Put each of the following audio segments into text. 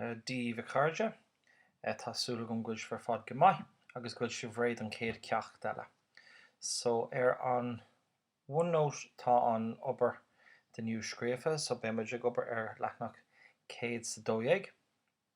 Dia daoibh a chairde, tá súil agam go bhfuil sibh ar fad go maith agus go bhfuil sibh réidh don chéad ceacht eile. So, ar an OneNote tá an obair don inniu scríofa, so beimid ag obair ar leathanach 112.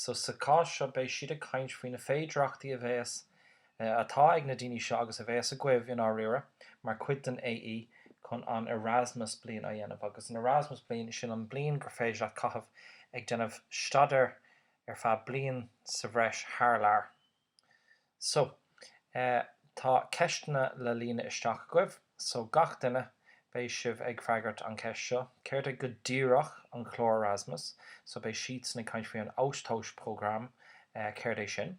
So sa chás seo beidh siad ag caint faoi na féidearthachtaí a bhéas, eh, atá ag na daoine seo agus a bhéas agaibh, i ndáiríre, mar chuid den AE, chun an Erasmus bliain a dhéanamh. Agus an Erasmus bliain, sin an bliain gur féidir leat caitheamh ag déanamh staidéar ar feadh bliain sa bhreis thar lear. So, tá ceisteanna le líonadh isteach agaibh. So, gach duine, beidh sibh ag freagairt an cheist seo, céard é go díreach an clár Erasmus? So, beidh siadsan ag caint faoi an Austauschprogramm, céard é sin?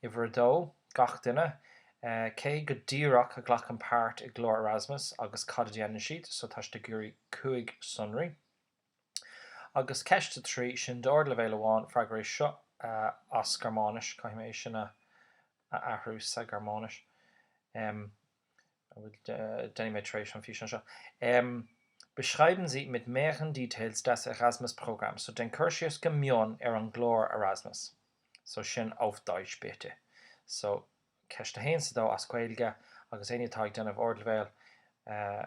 Uimhir a dó, gach duine, cé go díreach a ghlacann páirt i gclár Erasmus agus cad a dhéanann siad? So, tá sibh ag iarraidh cúig shonra. Agus ceist a trí, sin don ardleibhéal amháin, freagair é seo as Gearmáinis, caithfidh mé é sin a athrú sa Ghearmáinis, em, a bhfuil, déanfaidh mé tar éis an físeáin seo, em, beschreiben Sie mit mehreren Details das Erasmus-Programm, so déan cur síos go mion ar an gclár Erasmus, so sin auf Deutsch bitte. So ceist a haon is a dó as Gaeilge, agus éinne atá ag déanamh ardleibhéal, eh,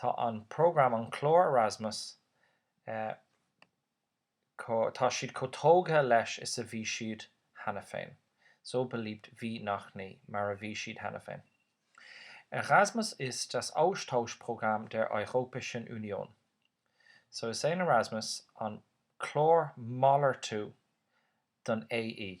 Tá an program, an clár Erasmus, tá siad chomh tógtha leis is a bhí siad cheana féin, so beliebt wie noch nie, mar a bhí siad cheana féin. Erasmus ist das Austauschprogramm der Europäischen Union. So is é an Erasmus an clár malartú don AE.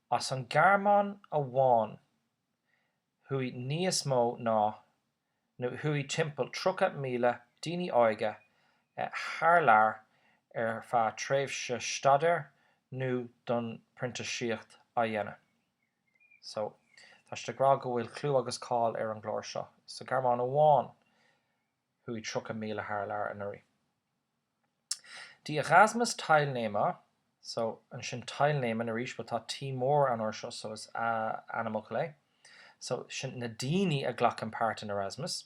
As an Ghearmáin amháin, chuaigh níos mó ná, nó chuaigh timpeall 30,000 daoine óga thar lear ar feadh tréimhse staidéir nó chun printíseacht a dhéanamh. So, tá siad ag rá go bhfuil clú agus cáil ar an gclár seo. Sa Ghearmáin amháin, chuaigh 30,000 thar lear anuraidh. Die Erasmus Teilnehmer, so ansin teilnehmen arís, but tá T mór air seo so is ainmfhocal é, so sin na daoine a ghlacann páirt in Erasmus.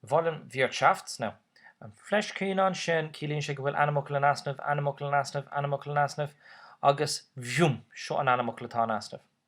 Wollen Wirtschafts, now an fleiscín ansin, ciallaíonn sé go bhfuil ainmfhocal in easnamh, ainmfhocal in easnamh, ainmfhocal in easnamh, agus, bhiùm, seo an ainmfhocal atá in easnamh.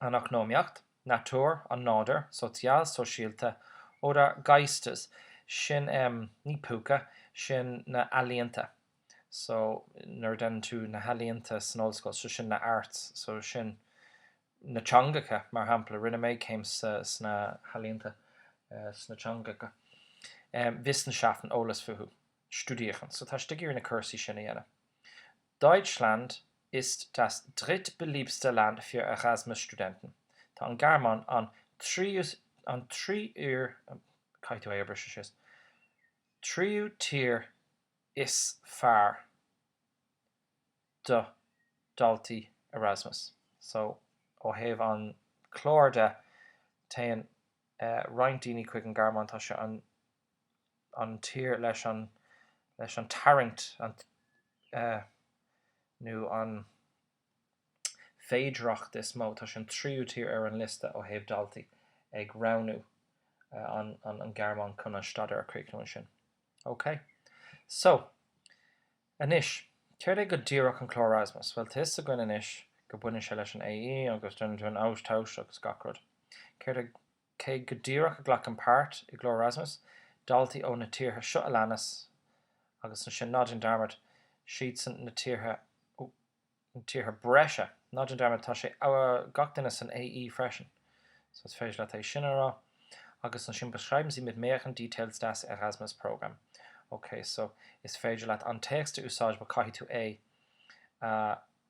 an eacnamaíocht, nature, an nádir, social, sóisialta, oder Geistes, sin ní púca, sin na ealaíonta, so nuair a deineann tú na healaíonta san ollscoil, so sin na arts, so sin na teangacha, mar shampla, rinne mé céim sna healaíonta, sna teangacha, wissenschaften, eolas fúthu, studieren, so tá tú ag iarraidh na cúrsaí sin a dhéanamh. Deutschland ist das drittbeliebteste Land für Erasmus-Studenten, Tá an Ghearmáin, an tríú an tríur caithfidh tú é a bhriseadh síos tríú tír is fearr do dhaltaí Erasmus. So, ó thaobh an clár de, téann roinnt daoine chuig an Ghearmáin, tá sé an. an tír leis an leis an tarraingt an nó an féidearthacht is mó. Tá sé an tríú tír ar an liosta ó thaobh daltaí ag roghnú an an an Ghearmáin chun an staidéar a chríochnú ansin. OK. So, anois, céard é go díreach an clár Erasmus? Bhuel, tá fhios againn anois go baineann sé leis an AE agus den Austausch agus gach rud. Céard é. Cé go díreach a ghlacann páirt i gclár Erasmus daltaí ó na tíortha seo a leanas, agus ansin ná déan dearmad, siadsan na tíortha, oh, na tíortha breise, ná déan dearmad, tá sé gach duine san AE freisin, so is féidir leat é sin a rá, agus ansin beschreiben Sie mit möglichen Details das Erasmus Programm. Ok, so is féidir leat an téacs a úsáid bhuel caithfidh tú é a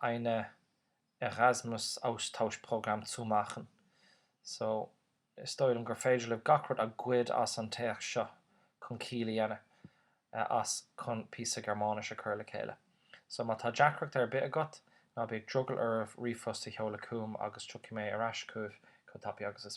ein Erasmus-Austauschprogramm zu machen. So, is dóigh liom gur féidir libh gach rud a ghoid as an téacs seo chun ciall a dhéanamh as chun píosa Gearmáinis a chur le chéile. So, má tá deacracht ar bith agat, ná bíodh drogall oraibh ríomhphost a sheoladh chugam agus tiocfaidh mé ar ais chugaibh chomh tapaidh agus is.